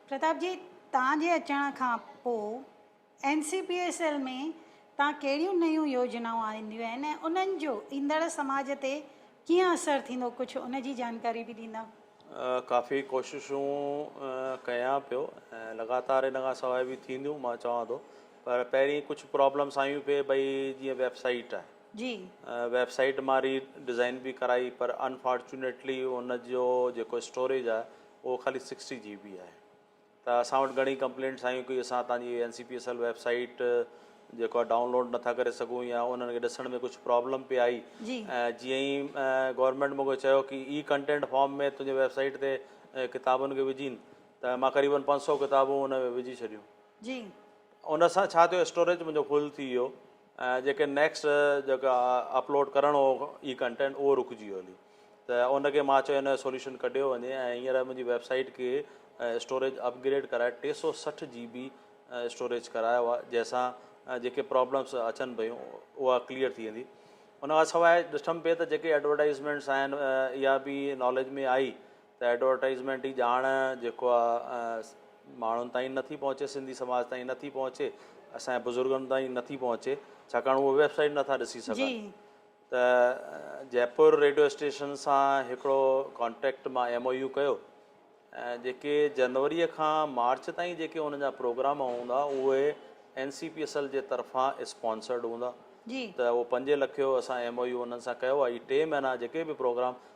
پرتاب جي توهان جي اچڻ کان پوء N C P S L ۾ تان ڪهڙيون نيون يوجنائون آنديون آهن ۽ انهن جو ايندڙ سماج تي ڪيئن اثر ٿيندو ڪجهه ان جي جانڪاري به ڏيندا. ڪافي ڪوششون ڪيان پيو ۽ لڳاتار ان کان سواء به ٿينديون مان چوان ٿو پر پهرين ڪجهه پرابلمس آيون پي بئي جيئن ويب سائيٽ آهي جي ويب سائيٽ مان ري ڊزائين به ڪرائي پر انفارچونيٽلي ان جو جيڪو اسٽوريج آهي اهو خالي سڪسٽي جي بي آهي ته اسان وٽ گهڻي ڪمپلينٽس آيون ڪي اسان تان جي N C P S L website جيڪو آهي ڊائون لوڊ نٿا ڪري سگهون يا انهن کي ڏسڻ ۾ ڪجهه پرابلم پئي آئي ۽ جيئن ئي گورنمينٽ مون کي چيو ڪي اي ڪنٽينٽ فارم ۾ تنهنجي ويب سائيٽ تي ڪتابن کي وجهين ته مان قريبن پنج سؤ ڪتابون ان ۾ وجهي ڇڏيون جي ان سان ڇا ٿيو اسٽوريج منهنجو فل ٿي ويو ۽ جيڪي نيڪسٽ جيڪا اپلوڊ ڪرڻ هو اي ڪنٽينٽ اهو رڪجي ويو هلي ته ان کي مان چيو ان جو سوليوشن ڪڍيو وڃي ۽ هينئر منهنجي ويب سائيٽ کي اسٽوريج اپ گريڊ ڪرائي ٽي سؤ سٺ جي بي اسٽوريج ڪرايو آهي جنهن سان جيڪي پرابلمس اچن پيون اها ڪليئر ٿي ويندي ان کان سواء ڏٺم پئي ته جيڪي ايڊورٽائزمينٽس آهن اها به ناليج ۾ آئي ته ايڊورٽائيزمينٽ جي ڄاڻ جيڪو آ ماڻهن تائين نٿي پهچي سنڌي سماج تائين نٿي پهچي اسان جي بزرگن تائين نٿي پهچي ڇاڪاڻ اهي ويب سائيٽ نٿا ڏسي سگهن ته جئپور ريڊيو اسٽيشن سان هڪڙو ڪانٽيڪٽ مان ايم او يو ڪيو ۽ جيڪي جنوري کان مارچ تائين جيڪي ان جا پروگرام هوندا اهي N C P S L جي طرفان اسپانسرڊ هوندا ته اهو پنج لکيو اسان ايم او يو انهن سان ڪيو آهي ٽي مهينا جيڪي به پروگرام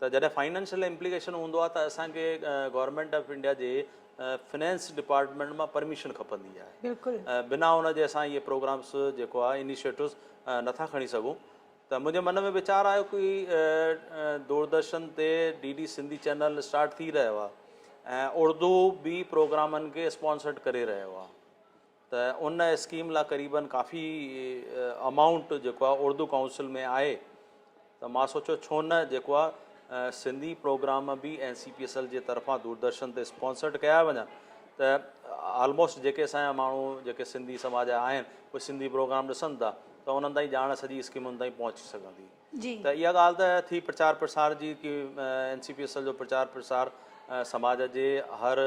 ته جڏهن فائنانشل امپليڪيشن هوندو آهي ته اسان کي گورنمينٽ آف انڊيا جي فنانس ڊپارٽمينٽ مان پرميشن کپندي آهي بلڪل بنا ان جي اسان اهي پروگرامس جيڪو آهي انيشيٽوز نٿا کڻي سگهون ته منهنجي من ۾ ويچار آيو ڪي دوردرشن تي D D Sindhi channel start ٿي رهيو آهي ۽ اڙدو به پروگرامن کي اسپانسرڊ ڪري رهيو آهي ته ان اسڪيم لا قريبن ڪافي امائونٽ جيڪو آ اردو ڪائونسل ۾ آهي ته مان سوچيو ڇو نه جيڪو آ سنڌي پروگرام به N C P S L جي طرفان دوردرشن تي اسپانسرڊ ڪيا وڃن ته آلموسٽ جيڪي اسان جا ماڻهو جيڪي سنڌي سماج جا آهن اهي سنڌي پروگرام ڏسن ٿا ته انهن تائين ڄاڻ سڄي اسڪيم انهن تائين پهچي سگهندي ته اها ڳالهه ته ٿي پرچار پرسار جي ڪي N C P S L جو پرچار پرسار سماج جي هر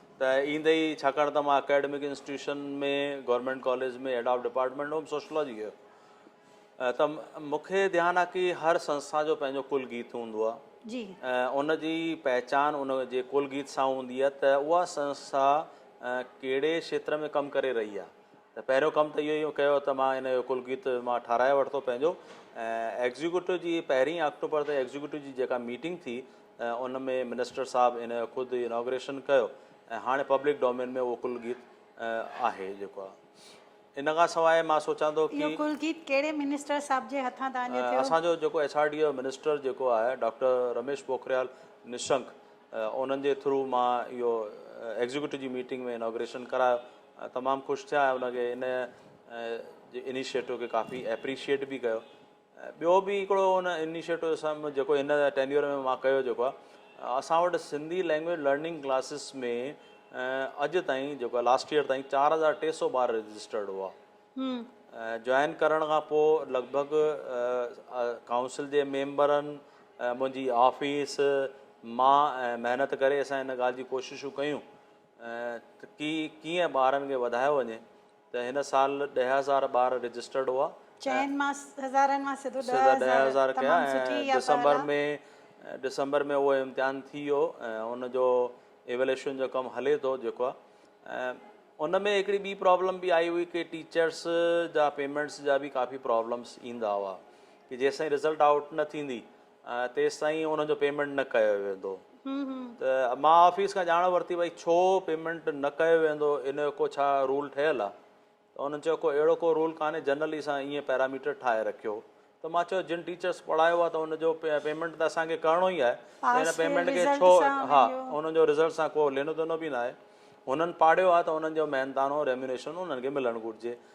ته ايندي ئي ڇاڪاڻ ته مان academic institution ۾ government college ۾ head of department home sociology جو ته مون کي ڌيان آ ڪي هر سنسٿا جو پنهنجو ڪل گيت هوندو آ جي ان جي پهچان ان جي ڪل گيت سان هوندي آ ته اها سنسٿا ڪهڙي کيتر ۾ ڪم ڪري رهي آ ته پهريون ڪم ته اهو ئي ڪيو ته مان ان جو ڪل گيت مان ٺاهرائي ورتو پنهنجو ايگزيڪيوٽو جي پهرين آڪٽوبر تي ايگزيڪيوٽو جي جيڪا ميٽنگ ٿي ۽ ان ۾ منسٽر صاحب ان جو خود اناگريشن ڪيو ۽ هاڻي پبلڪ ڊومين ۾ اهو ڪل گيت آهي جيڪو آهي ان کان سواء مان سوچان ٿو ڪي اهو ڪل گيت ڪهڙي منسٽر صاحب جي هٿان تان جو ٿيو؟ اسان جو جيڪو ايڇ آر ڊي جو منسٽر جيڪو آهي ڊاڪٽر رميش پوکريال نشنڪ انهن جي ٿرو مان اهو ايگزيڪيوٽو جي ميٽنگ ۾ اناگريشن ڪرايو تمام خوش ٿيا ۽ ان کي ان جي انيشيٽو کي ڪافي ايپريشيٽ به ڪيو. ٻيو به هڪڙو ان انيشيٽو اسان جيڪو هن ٽينيور ۾ مان ڪيو جيڪو آهي اسان وٽ سنڌي لينگويج لرننگ ڪلاسز ۾ اڄ تائين جيڪو آهي لاسٽ ايئر تائين چار هزار ٽي سو ٻار رجسٽرڊ هئا جوائن ڪرڻ کان پوء لڳ ڀڳ ڪائونسل جي ميمبرن منهنجي آفيس مان ۽ محنت ڪري اسان ان ڳالهه جي ڪوششون ڪيون ته ڪي ڪيئن ٻارن کي وڌايو وڃي ته هن سال ڏهه هزار ٻار رجسٽرڊ هئا چئن مان هزارن مان سڌو ڏهه سڌا ڏهه هزار هزار ڪيا تمام سٺي ۽ اها پهل ڊسمبر آ. ۾ ڊسمبر ۾ اهو امتحان ٿي ويو ۽ ان جو ايوليشن جو ڪم هلي ٿو جيڪو آ ۽ ان ۾ هڪڙي ٻي پرابلم به آئي هئي ڪي ٽيچرس جا پيمينٽس جا به ڪافي پرابلمس ايندا هئا ڪي جيسين رزلٽ آئوٽ نه ٿيندي ۽ تيستائين انهن جو پيمينٽ نه ڪيو ويندو ته مان آفيس کان ڄاڻ ورتي ڀئي ڇو پيمينٽ نه ڪيو ويندو ان جو ڪو ڇا رول ٺهيل آ ته انهن چيو ڪو اهڙو ڪو رول ڪانهي جنرلي اسان ائين پيراميٽر ٺاهي رکيو ته مان چيو جن ٽيچرس پڙهايو آ ته ان جو پيمينٽ ته اسان کي ڪرڻو ئي آهي ته ان پيمينٽ کي ڇو ها انهن جو رزلٽ سان ڪو لينو دينو به ناهي هنن پاڙهيو آ ته انهن جو مهنتانو ريميونيشن انهن کي ملڻ گهرجي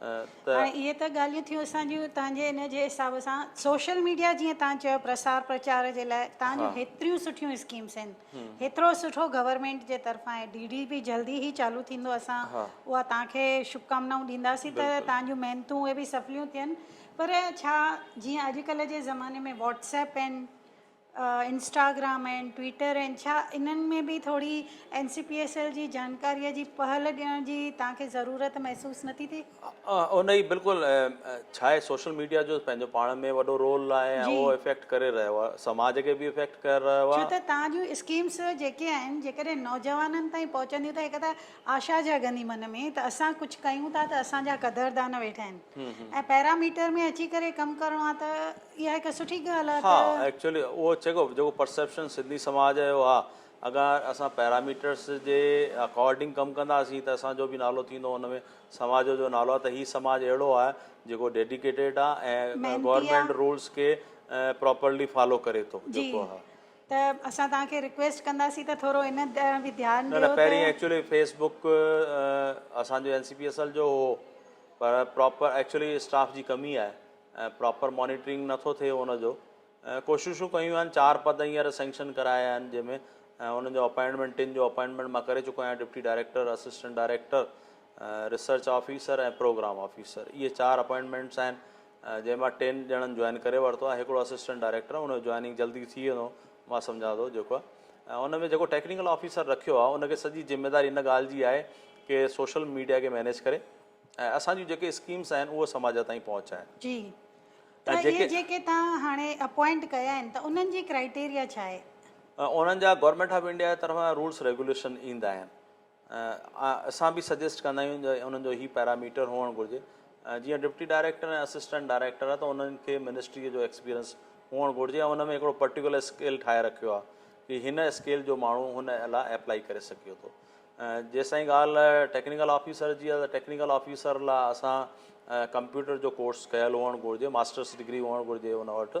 ته. هاڻي اهي ته ڳالهيون ٿيون اسان جون توهان جي ان جي حساب سان سوشل ميڊيا جيئن توهان چيو پرسار پرچار جي لاء توهان جون هيتريون سٺيون اسڪيمس آهن هيترو سٺو گورنمينٽ جي طرفان آهي ڊي ڊي به جلدي هي چالو ٿيندو اسان اها توهان کي شڀڪامنائون ڏينداسين ته توهان جون محنتون اهي به سڦليون ٿين پر ڇا جيئن اڄڪلهه جي زماني ۾ واٽس ايپ آهن انسٽاگرام آهن ٽوئيٽر آهن ڇا انهن ۾ به ٿوري N C P S L جي جانڪاريء جي پهل ڏيڻ جي توهان کي ضرورت محسوس نه ٿي ٿئي؟ ان جي بلڪل ڇا آهي سوشل ميڊيا جو پنهنجو پاڻ ۾ وڏو رول آهي ۽ اهو افيڪٽ ڪري رهيو آهي سماج کي به افيڪٽ ڪري رهيو آهي. ڇو ته توهان جون اسڪيمس جيڪي آهن جيڪڏهن نوجوانن تائين پهچنديون ته هڪ ته آشا جاڳندي من ۾، ته اسان ڪجهه ڪيون ٿا ته اسان جا قدردان ويٺا آهن ۽ پيراميٽر ۾ اچي ڪري ڪم ڪرڻو آهي ته اها هڪ سٺي ڳالهه آهي ته. ها ايڪچوئلي اهو چيڪو جيڪو پرسيپشن سنڌي سماج جو آهي اگر اسان پيراميٽرس جي اڪارڊنگ ڪم ڪنداسين ته اسان جو به نالو ٿيندو ان ۾ سماج جو نالو آهي ته هي سماج اهڙو آهي جيڪو ڊيڊيڪيٽيڊ آهي ۽ گورنمينٽ رولس کي پراپرلي فالو ڪري ٿو جيڪو آهي ته اسان توهان کي رڪويسٽ ڪنداسين ته ٿورو ان ڏانهن به ڌيان ڏيو ته. نه نه پهرين ايڪچولي فيس بڪ اسان جو N C P S L جو هو پر پراپر ايڪچولي اسٽاف جي ڪمي آهي ۽ پراپر مانيٽرنگ نه ٿو ٿئي ان جو ڪوششون ڪيون آهن چار پد هينئر سينڪشن ڪرايا آهن جنهن ۾ انهن جو اپائنٽمينٽ ٽن جو اپائنٽمينٽ مان ڪري چڪو آهيان deputy director assistant director research officer ۽ programme officer اهي چار اپائنٽمينٽس آهن جنهن مان ٽن ڄڻن جوائن ڪري ورتو آهي هڪڙو اسسٽنٽ ڊائريڪٽر آهي ان جو جوائننگ جلدي ٿي ويندو مان سمجهان ٿو جيڪو آهي ان ۾ جيڪو ٽيڪنيڪل آفيسر رکيو آهي ان کي سڄي ذميواري ان ڳالهه جي آهي ڪي سوشل ميڊيا کي مينيج ڪري ۽ اسان جون جيڪي اسڪيمس آهن اهو سماج تائين پهچائي جي ته اهي جيڪي توهان هاڻي اپوائنٽ ڪيا آهن ته انهن جي ڪرائيٽيريا ڇا آهي؟ انهن جا گورنمينٽ آف انڊيا جي طرفان رولس ريگوليشن ايندا آهن اسان به سجيسٽ ڪندا آهيون ته انهن جو هي پيرااميٽر هئڻ گهرجي جيئن ڊپٽي ڊائريڪٽر ۽ اسسٽنٽ ڊائريڪٽر آهي ته انهن کي منسٽريء جو ايڪسپيرينس هئڻ گهرجي ۽ ان ۾ هڪڙو پرٽيڪولر اسڪيل ٺاهي رکيو آهي ڪي هن اسڪيل جو ماڻهو هن لا ايپلائي ڪري سگهيو ٿو جيستائين ڳالهه ٽيڪنيڪل آفيسر جي آهي ته ٽيڪنيڪل آفيسر لا اسان ڪمپيوٽر جو ڪورس ڪيل هئڻ گهرجي ماسٽرس ڊگري هئڻ گهرجي ان وٽ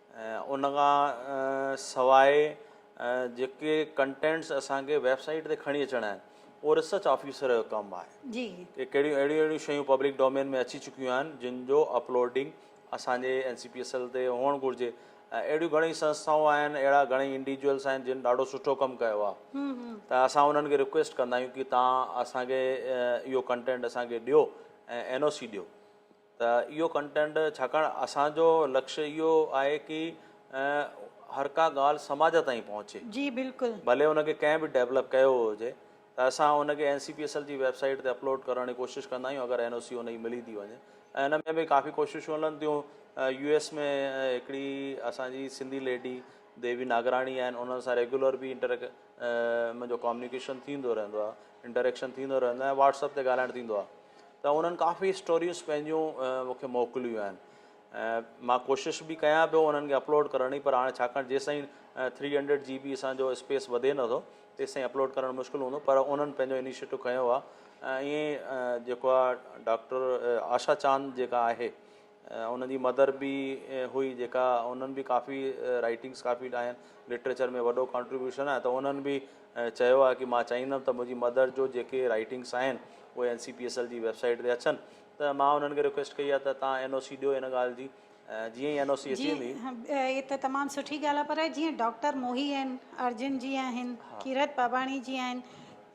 ان کان سواء جيڪي ڪنٽينٽس اسان کي ويب سائيٽ تي کڻي اچڻا آهن اهو ريسرچ آفيسر جو ڪم آهي ڪي ڪهڙيون اهڙيون اهڙيون شيون پبلڪ ڊومين ۾ اچي چڪيون آهن جن جو اپلوڊنگ اسان جي N C P S L تي هئڻ گهرجي ۽ اهڙيون گهڻيئي سنسٿائون آهن اهڙا گهڻيئي انڊيجوئلس آهن جن ڏاڍو سٺو ڪم ڪيو آهي ته اسان انهن کي رڪويسٽ ڪندا آهيون ڪي تان اسان کي اهو ڪنٽينٽ اسان کي ڏيو ۽ اين او سي ڏيو ته اهو ڪنٽينٽ ڇاڪاڻ اسان جو لڪش اهو آهي ڪي هر ڪا ڳالهه سماج تائين پهچي جي بلڪل. ڀلي ان کي ڪنهن به ڊيولپ ڪيو هجي ته اسان ان کي N C P S L جي ويب سائيٽ تي اپلوڊ ڪرڻ جي ڪوشش ڪندا آهيون اگر اين او سي ان جي ملي ٿي وڃي ۽ ان ۾ به ڪافي ڪوششون هلن ٿيون يو ايس ۾ هڪڙي اسان جي سنڌي ليڊي ديوي ناگراڻي آهن انهن سان ريگيولر به انٽر منهنجو ڪامنيڪيشن ٿيندو رهندو آهي انٽريڪشن ٿيندو رهندو آهي واٽس اپ تي ڳالهائڻ ٿيندو آهي ته انهن ڪافي اسٽوريز پنهنجون مون کي موڪليون آهن ۽ مان ڪوشش به ڪيان پيو انهن کي اپلوڊ ڪرڻ جي پر هاڻي ڇاڪاڻ جيستائين ٿري هنڊريڊ جي بي اسان جو اسپيس وڌي نٿو تيستائين اپلوڊ ڪرڻ مشڪل هوندو پر انهن پنهنجو انيشيٽو کنيو آهي ۽ ائين جيڪو آهي ڊاڪٽر آشا چاند جيڪا آهي هن جي مدر به هئي جيڪا انهن به ڪافي رائيٽنگس ڪافي ڏاهن لٽريچر ۾ وڏو ڪانٽريبيوشن آهي ته انهن به چيو آهي ڪي مان چاهيندم ته منهنجي مدر جو جيڪي رائيٽنگس آهن اهي N C P S L جي ويب سائيٽ تي اچن ته مان انهن کي رڪويسٽ ڪئي آهي ته تهان اين او سي ڏيو ان ڳالهه جي جيئن ئي اين او سي اچي جي ويندي هي ته تمام سٺي ڳالهه آهي پر جيئن ڊاڪٽر موهي آهن ارجن جي آهن ڪيرت پاٻاڻي جي آهن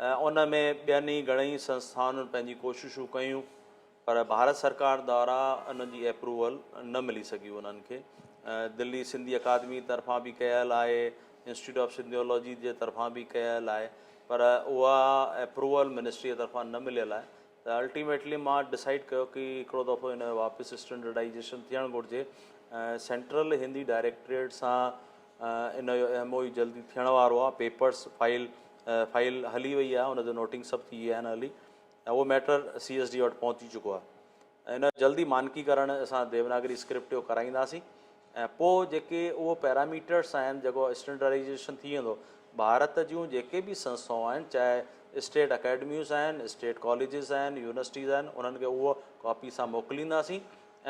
ان ۾ ٻين ئي گهڻيئي سنسٿائن پنهنجي ڪوششون ڪيون پر ڀارت سرڪار دارا ان جي ايپروول نه ملي سگهي انهن کي دلي سنڌي اڪادمي طرفان به ڪيل آهي انسٽيٽيوٽ آف سنڌيولوجي جي طرفان به ڪيل آهي پر اها ايپروول منسٽري جي طرفان نه مليل آهي ته الٽيميٽلي مان ڊسائيڊ ڪيو ڪي هڪڙو دفعو ان جو واپس اسٽينڊرڊائيزيشن ٿيڻ گهرجي سينٽرل هندي ڊائريڪٽريٽ سان ان جو ايم او يو جلدي ٿيڻ وارو آهي پيپرس فائل فائل هلي وئي آهي ان جو نوٽنگ سڀ ٿي وئي آهن هلي ۽ اهو ميٽر سي ايس ڊي وٽ پهچي چڪو آهي ۽ ان جلدي مانڪي ڪرڻ اسان ديوناگري اسڪرپٽ جو ڪرائينداسين ۽ پوء جيڪي اهو پيراميٽرس آهن جيڪو اسٽينڊرائيزيشن ٿي ويندو ڀارت جون جيڪي به سنسٿائون آهن چاهي اسٽيٽ اڪيڊميوز آهن اسٽيٽ ڪاليجز آهن يونيورسٽيز آهن انهن کي اهو ڪاپي سان موڪلينداسين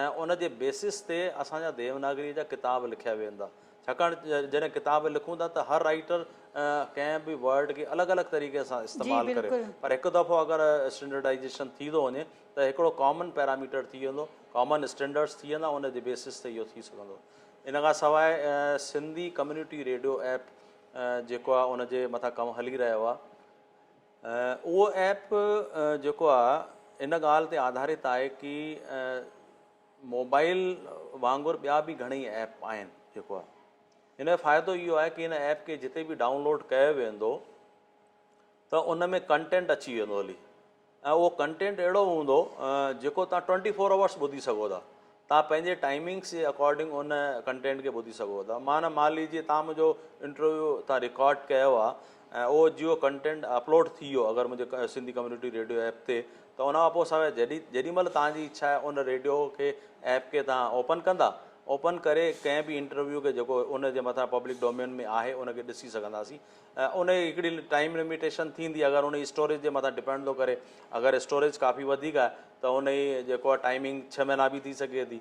۽ ان جي بيسس تي اسان جا ديوناگري جا ڪتاب لکيا ويندا ڇاڪاڻ جڏهن ڪتاب لکون ٿا ته هر رائيٽر ڪنهن به ورڊ کي الڳ الڳ طريقي سان استعمال ڪري پر هڪ دفعو اگر اسٽينڊرڊائيزيشن ٿي ٿو وڃي ته هڪڙو ڪامن پيرااميٽر ٿي ويندو ڪامن اسٽينڊرڊس ٿي ويندا ان جي بيسس تي اهو ٿي سگهندو ان کان سواء سنڌي ڪميونٽي ريڊيو ايپ جيڪو آهي ان جي مٿان ڪم هلي رهيو آهي اهو ايپ جيڪو آهي ان ڳالهه تي آڌارت آهي ڪي موبائل وانگر ٻيا به گهڻئي ايپ آهن جيڪو آهي هن جو فائدو اهو آهي ڪي هن ايپ کي جتي به ڊائون لوڊ ڪيو ويندو ته ان ۾ ڪنٽينٽ اچي ويندو هلي ۽ اهو ڪنٽينٽ اهڙو هوندو جيڪو تان ٽوئنٽي فور اورس ٻڌي سگهو ٿا تان پنهنجي ٽائمنگس جي اڪارڊنگ ان ڪنٽينٽ کي ٻڌي سگهو ٿا مان مان ليجي تان منهنجو انٽرويو تان رڪارڊ ڪيو آهي ۽ اهو جيو ڪنٽينٽ اپلوڊ ٿي ويو اگر منهنجي سنڌي ڪميونٽي ريڊيو ايپ تي ته ان کان پوء سواء جڏي جيڏي مهل توهان جي اڇا آهي ان ريڊيو کي ايپ کي توهان اوپن ڪندا اوپن ڪري ڪنهن به انٽرويو کي جيڪو ان جي مٿان پبلڪ ڊومين ۾ آهي ان کي ڏسي سگهنداسين ۽ ان جي هڪڙي ٽائيم لميٽيشن ٿيندي اگر ان جي اسٽوريج جي مٿان ڊپينڊ ٿو ڪري اگر اسٽوريج ڪافي وڌيڪ آهي ته ان جي جيڪو آهي ٽائيمنگ ڇهه مهينا به ٿي سگهي ٿي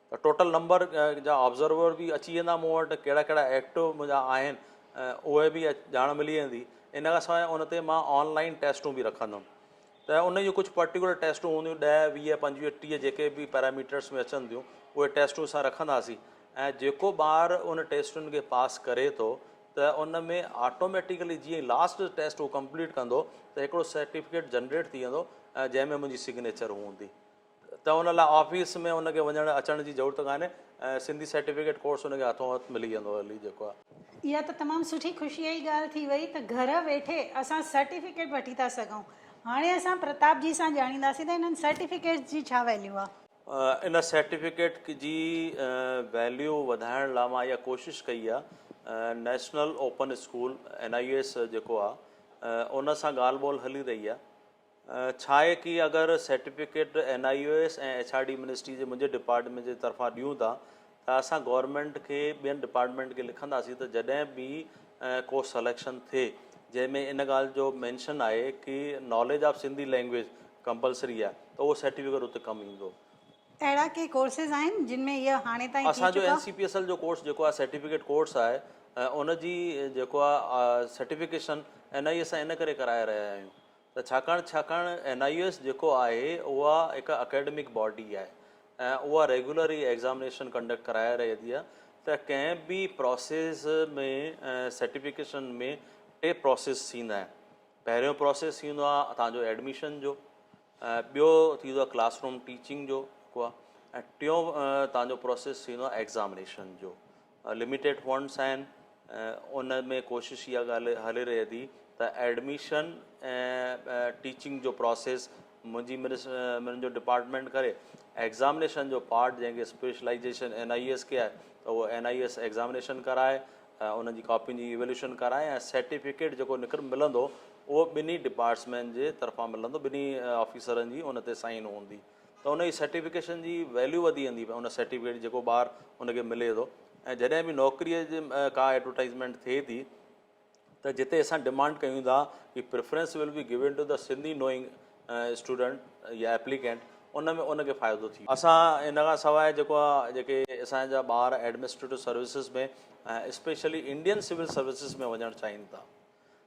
ٽوٽل نمبر جا آبزرور به اچي ويندا مون وٽ ڪهڙا ڪهڙا ايڪٽو منهنجا آهن اهي به ڄاڻ ملي ويندي ان کان سواء ان تي مان آن لائين ٽيسٽون به رکندم ته ان جون ڪجهه پرٽيڪولر ٽيسٽون هونديون ڏهه ويهه پنجويهه ٽيهه جيڪي به پيراميٽرس ۾ اچن ٿيون اهي ٽيسٽون اسان رکنداسين ۽ جيڪو ٻار ان ٽيسٽن کي پاس ڪري ٿو ته ان ۾ آٽوميٽيڪلي جيئن لاسٽ ٽيسٽ هو ڪمپليٽ ڪندو ته هڪڙو سرٽيفڪيٽ جنريٽ ٿي ويندو جنهن ۾ منهنجي سگنيچر هوندي ته ان لاء آفيس ۾ ان کي وڃڻ اچڻ جي ضرورت ڪانهي ۽ سنڌي سرٽيفڪيٽ ڪورس ان کي هٿون هٿ ملي ويندو هلي جيڪو آهي. اها ته تمام سٺي خوشيء جي ڳالهه ٿي وئي ته گهر ويٺي اسان سرٽيفڪيٽ وٺي ٿا سگهون. هاڻي اسان پرتاب جي سان ڄاڻينداسين ته انهن سرٽيفڪيٽس جي ڇا ويليو آهي. ان سرٽيفڪيٽ جي ويليو وڌائڻ لاء مان اها ڪوشش ڪئي آهي. نيشنل اوپن اسڪول، NIOS، جيڪو آهي ان سان ڳالهه ٻولهه هلي رهي آهي. ڇا آهي ڪي اگر certificate N I U S ۽ H R D ministry جي منهنجي ڊپارٽمينٽ جي طرفان ڏيون ٿا ته اسان گورنمينٽ کي ٻين ڊپارٽمينٽ کي لکنداسين ته جڏهن به ڪو سليڪشن ٿئي جنهن ۾ ان ڳالهه جو مينشن آهي ڪي knowledge of Sindhi language compulsory آهي ته اهو سيٽفڪيٽ اتي ڪم ايندو. اهڙا ڪي ڪورسز آهن جن ۾ اهي هاڻي تائين ٿي چڪا؟ اسان جو N C P S L جو ڪورس جيڪو آهي سيٽفڪيٽ ڪورس آهي ان جي جيڪو آهي certification N I U S سان ان ڪري ڪرائي رهيا آهيون. ته ڇاڪاڻ ڇاڪاڻ اين آء يو ايس جيڪو آهي اها هڪ اڪيڊمڪ باڊي آهي ۽ اها ريگيولر ئي ايگزامينيشن ڪنڊڪٽ ڪرائي رهي ٿي ته ڪنهن به پراسيس ۾ سرٽيفڪيشن ۾ ٽي پراسيس ٿيندا آهن پهريون پراسيس ٿيندو آهي تان جو ايڊميشن جو ٻيو ٿيندو آهي ڪلاس روم ٽيچنگ جو ٽيون تان جو پراسيس ٿيندو آهي ايگزامينيشن جو لميٽيڊ فنڊس آهن ان ۾ ڪوشش اها ڳالهه هلي رهي ٿي ته ايڊميشن ۽ ٽيچنگ جو پروسيس منهنجي منهنجو ڊپارٽمينٽ ڪري ايگزامينيشن جو پارٽ جنهن کي اسپيشلائيزيشن اين آئي ايس کي آهي ته اهو اين آئي ايس ايگزامينيشن ڪرائي انهن جي ڪاپين جي ايولوشن ڪرائي ۽ سرٽيفڪيٽ جيڪو نڪر ملندو اهو ٻنهي ڊپارٽسمينٽ جي طرفان ملندو ٻنهي آفيسرن جي ان تي سائن هوندي ته ان جي سرٽيفڪيشن جي ويليو وڌي ويندي ان سرٽيفڪيٽ جي جيڪو ٻار ان کي ملي ٿو ۽ جڏهن به نوڪريء جي ڪا ايڊورٽائزمينٽ ٿئي ٿي ته جتي اسان ڊمانڊ ڪيون ٿا ڪي preference will be given to ته سنڌي نوئنگ اسٽوڊنٽ يا ايپليڪينٽ ان ۾ ان کي فائدو ٿي اسان ان کان سواء جيڪو آهي جيڪي اسان جا ٻار administrative services ۾ specially Indian civil services ۾ وڃڻ چاهين ٿا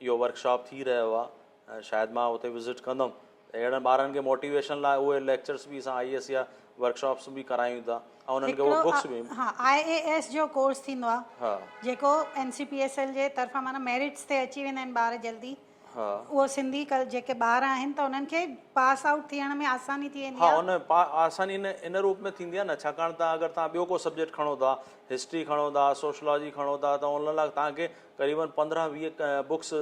اهو ورڪ شاپ ٿي رهيو آهي شايد مان اتي وزٽ ڪندم اهڙن ٻارن کي موٽيويشن لاء اهي ليڪچرس به اسان آء ايس يا ورڪ شاپس به ڪرايون ٿا ۽ انهن کي اهي بڪس به ها آء ايس جو ڪورس ٿيندو آهي ها جيڪو N C P S L جي طرفان معنيٰ ميرٽس تي اچي ويندا آهن ٻار جلدي ها اهو سنڌي ڪل جيڪي ٻار آهن ته انهن کي پاس آئوٽ ٿيڻ ۾ آساني ٿي ويندي ها آهي ان پا آساني ان ان روپ ۾ ٿيندي آهي نه ڇاڪاڻ ته اگر تهان ٻيو ڪو سبجيڪٽ کڻو ٿا هسٽري کڻو ٿا سوشلاجي کڻو ٿا ته ان لاء تهان کي قريبن پندرهن ويهه بوڪس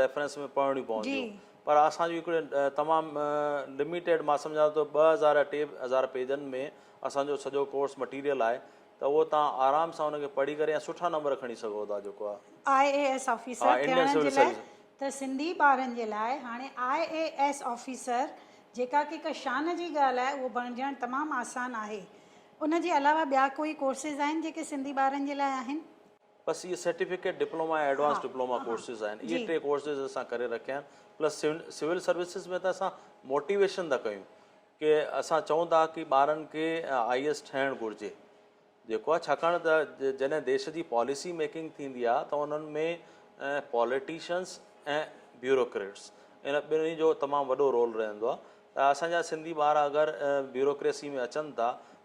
ريفرنس ۾ پڙهڻيون پونديون پر اسان جون هڪڙي تمام لميٽيڊ مان سمجهان ٿو ته ٻه هزار يا ٽي هزار پيجن ۾ اسان جو سڄو ڪورس مٽيريل آهي ته اهو توهان آرام سان ان کي پڙهي ڪري ۽ سٺا نمبر کڻي سگهو ٿا جيڪو آء اي ايس آفيسر ٿيڻ جي لاء ته سنڌي ٻارن جي لاء هاڻي آء اي ايس آفيسر جيڪا ڪي هڪ شان جي ڳالهه آهي اهو بڻجڻ تمام آسان آهي ان جي علاوه ٻيا ڪوئي ڪورسز آهن جيڪي سنڌي ٻارن جي لاء آهن. بس اهي certificate diploma ۽ advance diploma courses آهن اهي ٽي ڪورسز اسان ڪري رکيا آهن پلس سول سروسز ۾ ته اسان موٽيويشن ٿا ڪيون ڪي اسان چئون ٿا ڪي ٻارن کي آئي اي ايس ٺهڻ گهرجي جيڪو آهي ڇاڪاڻ ته جڏهن ديش جي پاليسي ميڪنگ ٿيندي آهي ته انهن ۾ پاليٽيشنس ۽ بيوروڪريٽس ان ٻنهي جو تمام وڏو رول رهندو آهي ته اسانجا سنڌي ٻار اگر بيوروڪريسي ۾ اچن ٿا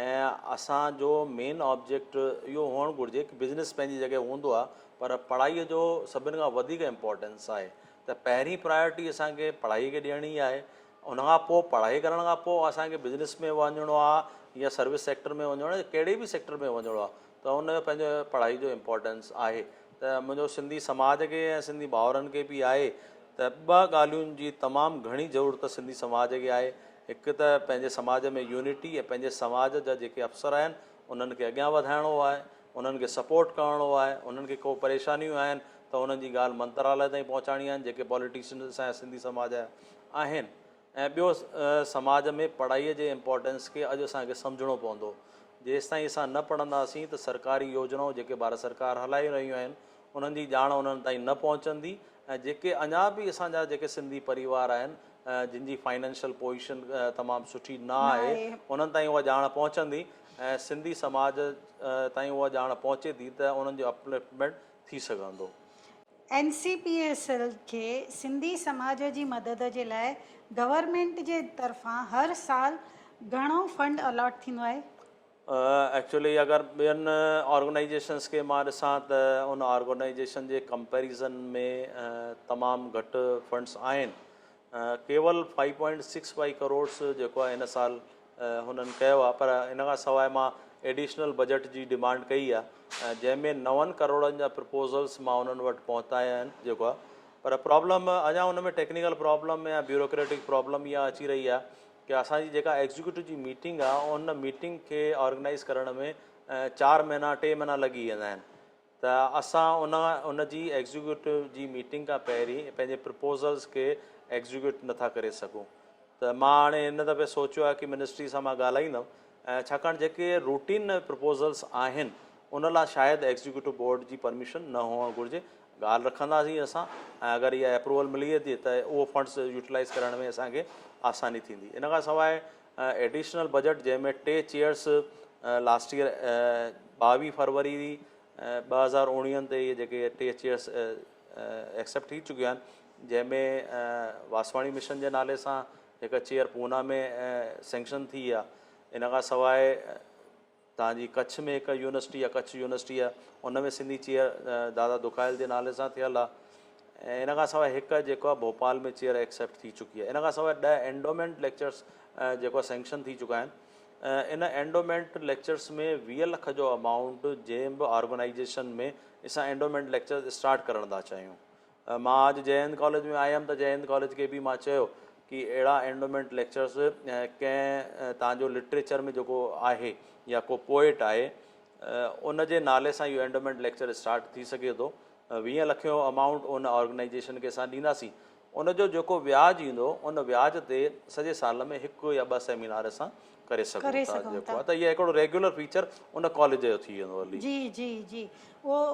۽ اسان جو مين آبجيڪٽ اهو هئڻ گهرجي ڪه بزنس پنهنجي جڳهه هوندو آهي پر پڙهائي جو سڀن کان وڌيڪ امپورٽنس آهي ته پهرين پرايورٽي اسان کي پڙهائي کي ڏيڻي ئي آهي ان کان پوء پڙهائي ڪرڻ کان پوء اسان کي بزنس ۾ وڃڻو آهي يا سروس سيڪٽر ۾ وڃڻو آهي ڪهڙي به سيڪٽر ۾ وڃڻو آهي ته ان جو پنهنجو پڙهائي جو امپورٽنس آهي ته منهنجو سنڌي سماج کي ۽ سنڌي ڀائرن کي به آهي ته ٻه ڳالهين جي تمام گهڻي ضرورت سنڌي سماج کي آهي هڪ ته پنهنجي سماج ۾ يونٽي ۽ پنهنجي سماج جا جيڪي افسر آهن انهن کي اڳيان وڌائڻو آهي انهن کي سپورٽ ڪرڻو آهي انهن کي ڪو پريشانيون آهن ته انهن جي ڳالهه منتراليه تائين پهچائڻي آهن جيڪي پاليٽيشنز اسان جا سنڌي سماج جا آهن ۽ ٻيو سماج ۾ پڙهائي جي امپورٽنس کي اڄ اسان کي سمجهڻو پوندو جيستائين اسان نه پڙهنداسين ته سرڪاري يوجنائون جيڪي ڀارت سرڪار هلائي رهيون آهن انهن جي ڄاڻ انهن تائين نه پهچندي ۽ جيڪي اڃا به اسان جا جيڪي سنڌي پريوار آهن جن جي فائنينشل پوزيشن تمام سٺي نه آهي انهن تائين اها ڄاڻ پهچندي ۽ سنڌي سماج تائين اها ڄاڻ پهچي ٿي ته انهن جو اپلفٽمينٽ ٿي سگهندو. N C P S L کي سنڌي سماج جي مدد جي لاء گورنمينٽ جي طرفان هر سال گهڻو فنڊ الاٽ ٿيندو آهي؟ ايڪچوئلي اگر ٻين آرگنائيزيشنس کي مان ڏسان ته ان آرگنائيزيشن جي ڪمپيريزن ۾ تمام گهٽ فنڊس آهن ڪيول five point six five crores جيڪو آهي هن سال هنن ڪيو آهي پر ان کان سواء مان ايڊيشنل بجيٽ جي ڊيمانڊ ڪئي آهي جنهن ۾ نون ڪروڙن جا پرپوزلس مان انهن وٽ پهتايا آهن جيڪو آهي پر پرابلم اڃا ان ۾ ٽيڪنيڪل پرابلم يا بيوروڪريٽڪ پرابلم اها اچي رهي آهي ڪي اسان جي جيڪا ايگزيڪيوٽو جي ميٽنگ آهي ان ميٽنگ کي آرگنائز ڪرڻ ۾ چار مهينا ٽي مهينا لڳي ويندا آهن ته اسان ان ان جي ايگزيڪيوٽو جي ميٽنگ کان پهرين پنهنجي پرپوزلز کي ايگزيڪيوٽ نه ٿا ڪري سگهون ته مان هاڻي هن دفعي سوچيو آهي ڪي منسٽري سان مان ڳالهائيندم ۽ ڇاڪاڻ جيڪي روٽين پرپوزلز آهن ان لا شايد ايگزيڪيوٽو بورڊ جي پرميشن نه هئڻ گهرجي ڳالهه رکنداسين اسان ۽ اگر اها اپروول ملي ويندي ته اهو فنڊز يوٽيلائيز ڪرڻ ۾ اسان کي آساني ٿيندي ان کان سواء ايڊيشنل بجيٽ جنهن ۾ ٽي چيئرس لاسٽ ايئر ٻاويهه فروري ٻه هزار اوڻيهن تي اهي جيڪي ٽي چيئرس ايڪسيپٽ ٿي چڪيون آهن جنهن ۾ واسواڻي مشن جي نالي سان هڪ چيئر پونا ۾ سينڪشن ٿي آهي ان کان سواء تان جي ڪڇ ۾ هڪ يونيورسٽي آ ڪڇ يونيورسٽي آ ان ۾ سنڌي چيئر دادا دکايل جي نالي سان ٿيل آ ۽ ان کان سواء هڪ جيڪو آ ڀوپال ۾ چيئر ايڪسيپٽ ٿي چڪي آ ان کان سواء ڏهه اينڊومينٽ ليڪچرس جيڪو آ سينڪشن ٿي چڪا آهن ان اينڊومينٽ ليڪچرس ۾ ويهه لک جو امائونٽ جنهن به آرگنائيزيشن ۾ اسان اينڊومينٽ ليڪچرس اسٽارٽ ڪرڻ ٿا چاهيون مان اڄ جئي هند ڪاليج ۾ آيم ته جئي هند ڪاليج کي به مان چيو ڪي اهڙا اينڊومينٽ ليڪچرس ڪنهن تان جو لٽريچر ۾ جيڪو آهي يا ڪو پوئٽ آهي ان جي نالي سان اهو اينڊومينٽ ليڪچر اسٽارٽ ٿي سگهي ٿو ويهه لک جو امائونٽ ان آرگنائيزيشن کي اسان ڏينداسين ان جو جيڪو وياج ايندو ان وياج تي سڄي سال ۾ هڪ يا ٻه سيمينار اسان ڪري سگهون ٿا جيڪو آهي ته اهي هڪڙو ريگيولر فيچر ان ڪاليج جو ٿي ويندو علي جي جي جي اهو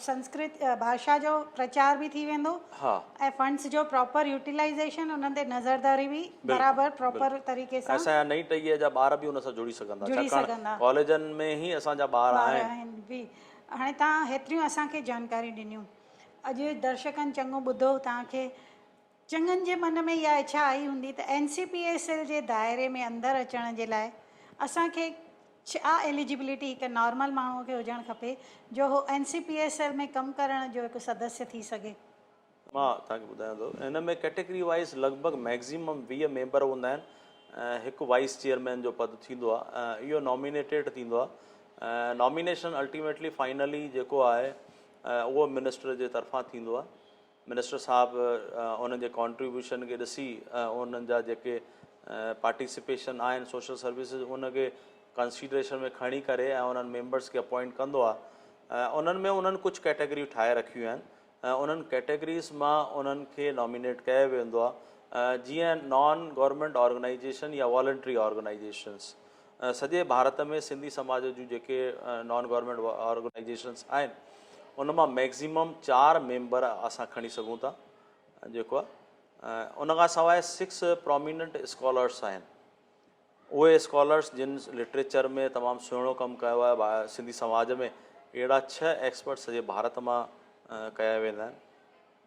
سنسڪرت ڀاشا جو پرچار به ٿي ويندو ۽ فنڊس جو پراپر يوٽيلائيزيشن انهن تي نظرداري به برابر پراپر طريقي سان اسان جا نئين ٽهيء جا ٻار به ان سان جڙي سگهندا ڇاڪاڻ ڪاليجن ۾ هي اسان جا ٻار آهن به هاڻي تان هيتريون اسان کي جانڪاري ڏنيون اڄ درشڪن چڱو ٻڌو تان کي چڱن جي من ۾ اها اڇا آئي هوندي ته N C P S L جي دائري ۾ اندر اچڻ جي لاء اسان کي ڇا ايليجبلٽي هڪ نارمل ماڻهوء کي هجڻ کپي جو هو N C P S L ۾ ڪم ڪرڻ جو هڪ سدسيه ٿي سگهي. مان توهان کي ٻڌايان ٿو ان ۾ ڪيٽيگري وائيز لڳ ڀڳ ميڪزيمم ويهه ميمبر هوندا آهن ۽ هڪ وائيس چيئرمين جو پد ٿيندو آهي اهو نامينيٽيڊ ٿيندو آهي نامينيشن الٽيميٽلي فائنلي جيڪو آهي اهو منسٽر جي طرفان ٿيندو آهي منسٽر صاحب انهن جي ڪانٽريبيوشن کي ڏسي انهن جا جيڪي پارٽيسپيشن آهن سوشل سروسز ان کي ڪنسيڊريشن ۾ کڻي ڪري ۽ انهن ميمبرس کي اپوائنٽ ڪندو آهي انهن ۾ انهن ڪجهه ڪيٽيگريون ٺاهي رکيون آهن انهن ڪيٽيگريز مان انهن کي نامينيٽ ڪيو ويندو آهي جيئن نان گورنمينٽ آرگنائيزيشن يا والنٽري آرگنائيزيشنس سڄي ڀارت ۾ سنڌي سماج جون جيڪي نان گورنمينٽ آرگنائيزيشنس آهن ان مان ميڪزيمم چار ميمبر اسان کڻي سگهون ٿا جيڪو آهي ان کان سواء سڪس پروميننٽ اسڪالرس آهن اهي اسڪالرس جن لٽريچر ۾ تمام سهڻو ڪم ڪيو آهي سنڌي سماج ۾ اهڙا ڇهه ايڪسپرٽ سڄي ڀارت مان ڪيا ويندا آهن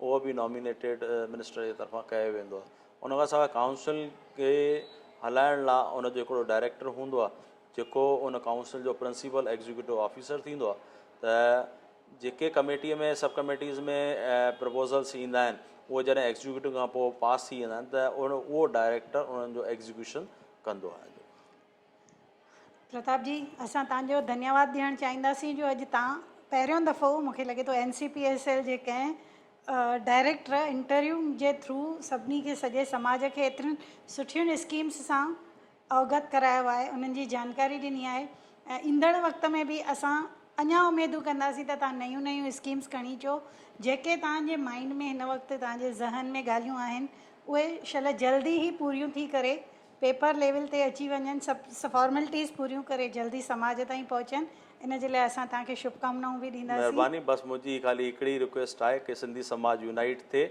اهو به نامينيٽيڊ منسٽر جي طرفان ڪيو ويندو آهي. ان کان سواء ڪائونسل کي هلائڻ لا ان جو هڪڙو ڊائريڪٽر هوندو آهي جيڪو ان ڪائونسل جو پرنسپل ايگزيڪيوٽو آفيسر ٿيندو آهي ته جيڪي ڪميٽي ۾ سب ڪميٽيز ۾ پرپوزلس ايندا آهن اهي جڏهن ايگزيڪيوٽو کان پوء پاس ٿي ويندا آهن ته اهو ڊائريڪٽر انهن جو ايگزيڪيوشن ڪندو آهي. پرتاب جي اسان تان جو ڌنيواد ڏيڻ چاهينداسين جو اڄ تان پهريون دفعو مونکي لڳي ٿو N C P S L جي ڪنهن ڊائريڪٽر انٽرويو جي ٿرو سڀني کي سڄي سماج کي ايترين سٺين اسڪيمس سان اوگت ڪرايو آهي انهن جي جانڪاري ڏني آهي ۽ ايندڙ وقت ۾ به اسان اڃا اميدون ڪنداسين ته تان نيون نيون اسڪيمس کڻي اچو جيڪي تان جي مائنڊ ۾ هن وقت تان جي ذهن ۾ ڳالهيون آهن اهي شل جلدي هي پوريون ٿي ڪري پيپر ليول تي اچي وڃن سڀ فارملٽيز پوريون ڪري جلدي سماج تائين پهچن ان جي لاء اسان توهان کي شڀڪامنائون به ڏينداسين. مهرباني بس منهنجي خالي هڪڙي رڪويسٽ آهي ڪي سنڌي سماج يونائيٽ ٿئي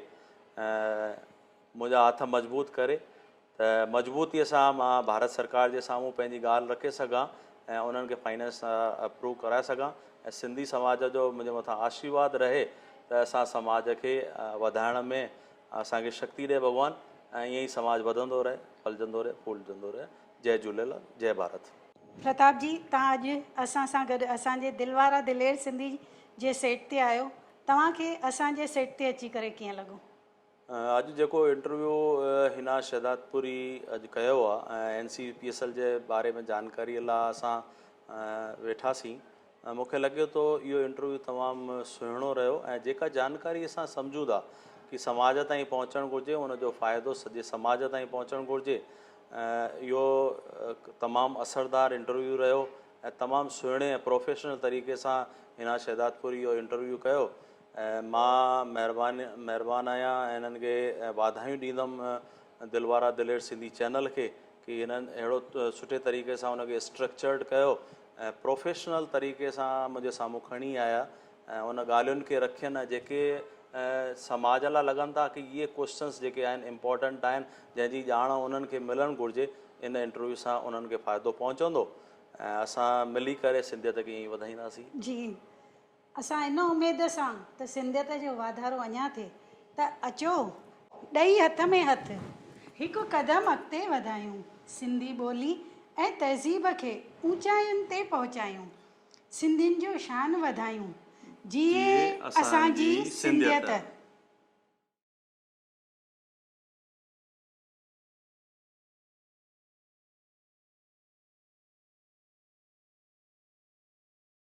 منهنجا هٿ مضبوط ڪري ته مضبوطي سان مان ڀارت سرڪار جي سامهون پنهنجي ڳالهه رکي سگهان ۽ انهن کي فائنانس اپروو ڪرائي سگهان ۽ سنڌي سماج جو منهنجي مٿان آشيرواد رهي ته اسان سماج کي وڌائڻ ۾ اسان کي شڪتي ڏي ڀڳوان ۽ ائين ئي سماج وڌندو رهي ڦلجندو رهي ڦولجندو رهي جئي جهوليلال جئي ڀارت. پرتاب جي توهان اڄ اسان سان گڏ اسان جي دل وارا دلير سنڌي جي سيٽ تي آهيو توهان کي اسان جي سيٽ تي اچي ڪري ڪيئن لڳو؟ اڄ جيڪو انٽرويو حنا شهدادپوري اڄ ڪيو آهي ۽ N C P S L جي باري ۾ جانڪاري لا اسان ويٺاسين مون کي لڳي ٿو اهو انٽرويو تمام سهڻو رهيو ۽ جيڪا جانڪاري اسان سمجهون ٿا ڪي سماج تائين پهچڻ گهرجي ان جو فائدو سڄي سماج تائين پهچڻ گهرجي اهو تمام اثردار انٽرويو رهيو ۽ تمام سهڻي ۽ پروفيشنل طريقي سان هنا شهدادپوري اهو انٽرويو ڪيو ۽ مان مهربان مهربان آهيان ۽ هنن کي واڌايون ڏيندم دل وارا دلير سنڌي چينل کي ڪي هنن اهڙو سٺي طريقي سان ان کي اسٽرڪچرڊ ڪيو ۽ پروفيشنل طريقي سان منهنجي سامهون کڻي آيا ۽ ان ڳالهين کي رکين ۽ جيڪي سماج لاء لڳن ٿا ڪي اهي ڪوئسچنس جيڪي آهن امپورٽنٽ آهن جنهن جي ڄاڻ انهن کي ملڻ گهرجي ان انٽرويو سان انهن کي فائدو پهچندو ۽ اسان ملي ڪري سنڌيت کي ائين ئي وڌائينداسين. جي اسان ان اميد سان ته سنڌيت جو واڌارو اڃا ٿئي ته اچو ڏئي هٿ ۾ هٿ هڪ قدم اڳتي وڌايون سنڌي ٻولي ۽ تهذيب کي اوچاين تي پهچايون سنڌين جو شان وڌايون جيئي اسان جي سنڌيت.